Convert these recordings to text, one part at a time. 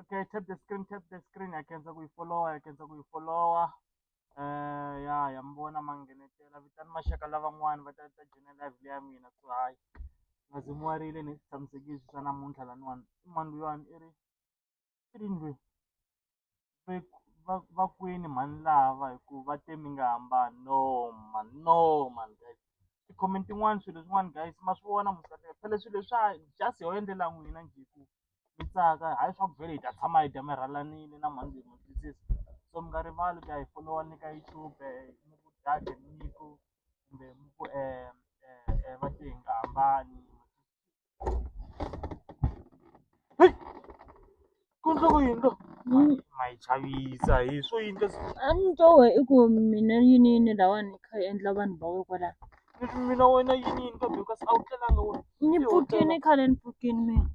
okay tap the screen tap the screen yakhenza ku yi followa yakhenza ku yi followa um ya ya mi vona ma nghenetela vitani maxaka lavan'wani va ta ta joina live leya mina so hayi nga zi mi warile ni swi tshamisekile swi swa namuntlha laniwani i mani luyani i ri i ri ndlwini va kwini mhani lava hi ku va te mi nga hambani no man no man guys ti-comment tin'wani swilo swin'wana guys ma swi vona musati phela swilo leswa just ho endlela n'wina njhe ku mi tsaka hayi swa ku vhele hi ta tshama hi dya mi rhalanile na mhani ndza mi twisisa so mi nga rivali ku ya hi folowa ni ka YouTube mi ku date ni ku kumbe mi ku va te hi nga hambani ku ndlo ku yini lo ma yi chavisa hi swo yini leswi a ni twa wehe i ku mina yini yini lahawani i kha i endla vanhu va we kwala. Leswi mina wena yini yini ka Dorcas a wu tlelanga wena. Ni pfukini khale ni pfukini mina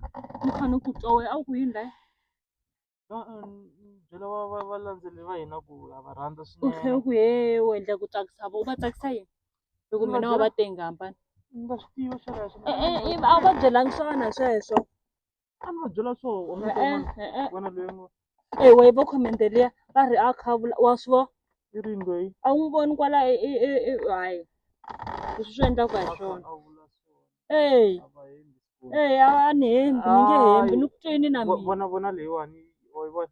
ni kha ni ku twa wena a wu ku yini layi. E-e ni byela va va valandzeleri va hina ku ha va rhandza u tlhe u ku he u endla ku tsakisa vona u va tsakisa yini hi ku mina wa va tenga hambana ni nga swi tivi sweleswo. E-e a wu va byelanga swona sweswo. a ni va byela swo u nga ta vona Eh, eh, eh. vona loyi ngo ewa yi vo comment liya va ri a kha a vula wa swi vo i ri loyi a wu n'wi voni kwala e- e- e- e- hayi leswi swi endlaka hi swona a vula swona eyi a va hembi swona. eyi a a ni hembi ni nge hembi ni ku twini na Vo- mina vona vona leyiwani wa yi vona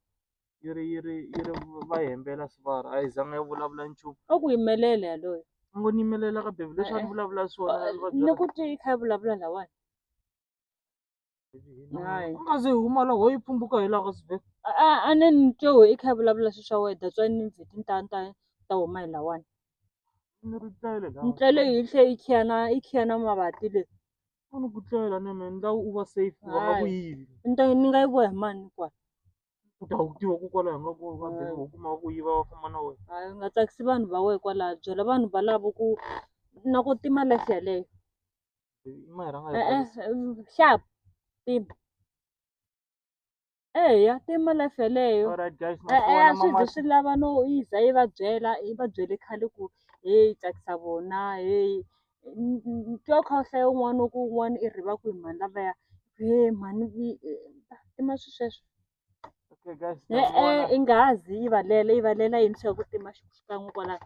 yi ri yi ri yi ri va hembela swivara a yi zanga yi vulavula nchumu a ku yimelela yaloyo a ngo ni yimelela ka bebi leswi a ni Eh, eh. vulavula swona a ni va ni byela ku twi yi kha yi vulavula lawani u nga ze huma la ho yi pfumbuka hi loko sbe a a ne ni twe we i kha i vulavula swi swa wena that's why ni ndzi ti ta ta ta huma hi lawani ni ri tlela ni tlele yi tlhe yi khiyana yi khiyana mavati le u ni ku tlela ne me ni la u va safe wa nga ku yivi ni ta ni nga yi voya hi mani kwa u ta wu tiva ku kwala hi nga ku va be u kuma ku yiva va famba na wena hayi u nga tsakisi vanhu va wena kwalaha byela vanhu valavo ku na ku tima life yaleyo Ima i rhanga eh, eh, eh, sharp tim eya tima life yeleyo a swi zi swi lava no yi za yi va byela yi va byele khale ku heyi tsakisa vona heyi twa kha u hlaya un'wana ku un'wana i riva ku hi mhani lavaya he mhani tima swi sweswo e-e i nga ha zi yi valela yi valela yini swa ku tima xikan'we kwalaho